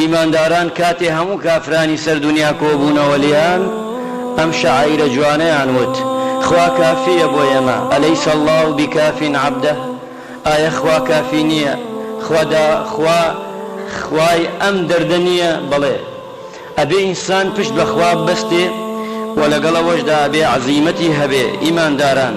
ئیمانداران کاتێ هەموو کافرانی سەر دونیا کۆبوونەوە لێیان ئەم شەعائیرە جوانەیان وت، خوا کافییە بۆ ئێمە، الیس اللە بکاف عبدە، ئایە خوا کافی نییە، خوا دا خوا خوای ئەم دەردە نییە، بەڵێ، ئەبێ ئینسان پشت بە خوا ببەستێ و لەگەڵ ئەوەشدا ئەبێ عەزیمەتی هەبێ، ئیمانداران،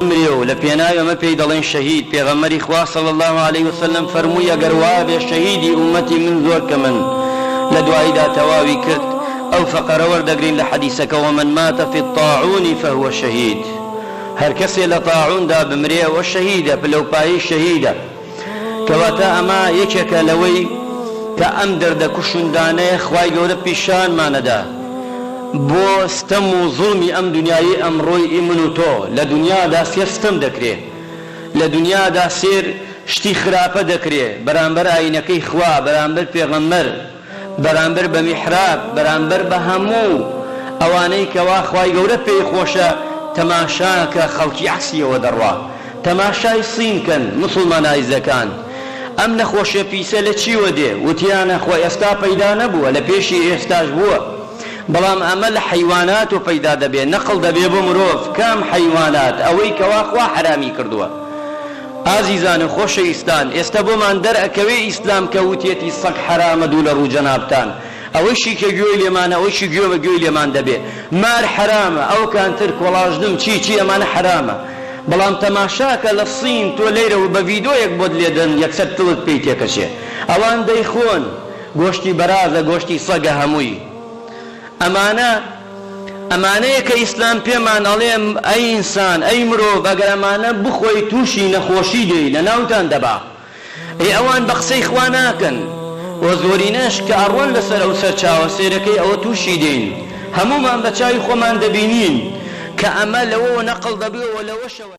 بمرێ و لە پێناوی ئەمە پێی دەڵێن شەهید، پێغەمبەری خوا صلی اللە علیە وسلم فەرمووی ئەگەر وابێ شەهیدی ئوممەتی من زۆر کەمن لە دواییدا تەواوی کرد، ئەو فەقرە وەردەگرین لە حەدیسەکەوە من مات فی الطاعون فهو شهید هەرکەسێ لە طاعوندا بمرێ ئەوە شەهیدە، پلەوپایەی شەهیدە. کەواتە ئەمە یەکێکە لەوەی کە ئەم دەردە کوشندانەیە خوای گەورە پیشانمانەدا بۆ ستەم و زوڵمی ئەم دنیایەی ئەمڕۆی ئی من و تۆ لە دنیادا سێر ستەم دەکرێ لە دنیادا سێر شتی خراپە دەکرێ بەرامبەر ئاینەکەی خوا بەرامبەر پێغەمبەر بەرامبەر بە میحراب بەرامبەر بە هەموو ئەوانەی کەوا خوای گەورە پێی خۆشە تەماشاکە خەڵکی عەکسی ئەوە دەڕوا تەماشای صین کەن موسڵمانایزەکان ئەم نەخۆشیە پیسە لە چیوە دێ وتیانە خۆ ئێستا پەیدا نەبووە لە پێشی ئێستاش بووە بەڵام ئەمە لە حەیوانات و پەیدا دەبێ نەقڵ دەبێ بۆ مرۆڤ کام حەیوانات ئەوەی کەوا خوا حەرامی کردووە ئازیزان و خۆشەویستان ئێستا بۆمان دەر ئەکەوێ ئیسلام کە وتیەتی سەگ حەرامە دوو لە ڕوو جەنابتان ئەوەشی کە گوێی لێمانە ئەوەشی گوێ بە گوێی لێمان دەبێ مار حەرامە ئەوکان تر کۆڵاژنم چی چی ئەمانە حەرامە بەڵام تەماشاکە لە صین تۆ لێرە و بە ڤیدۆیەک بۆت لێ دەن یەکسەر تلت پێی تێکەچێ ئەوان دەیخۆن گۆشتی بەرازە گۆشتی سەگە هەمووی ئەمانە ئەمانەیە کە ئیسلام پێمان ئەڵێ ئەی ئینسان ئەی مرۆڤ ئەگەر ئەمانە بخۆی توشی نەخۆشی دێی لەناوتان دەبا ئەی ئەوان بە قسەی خوا ناکەن وە زۆرینەش کە ئەڕۆن لەسەر ئەو سەرچاوە سێرەکەی ئەوە توشی دێین هەموومان بە چاوی خۆمان دەبینین کە ئەمە لەوەوە نەقڵ دەبێ و لەوەشەوە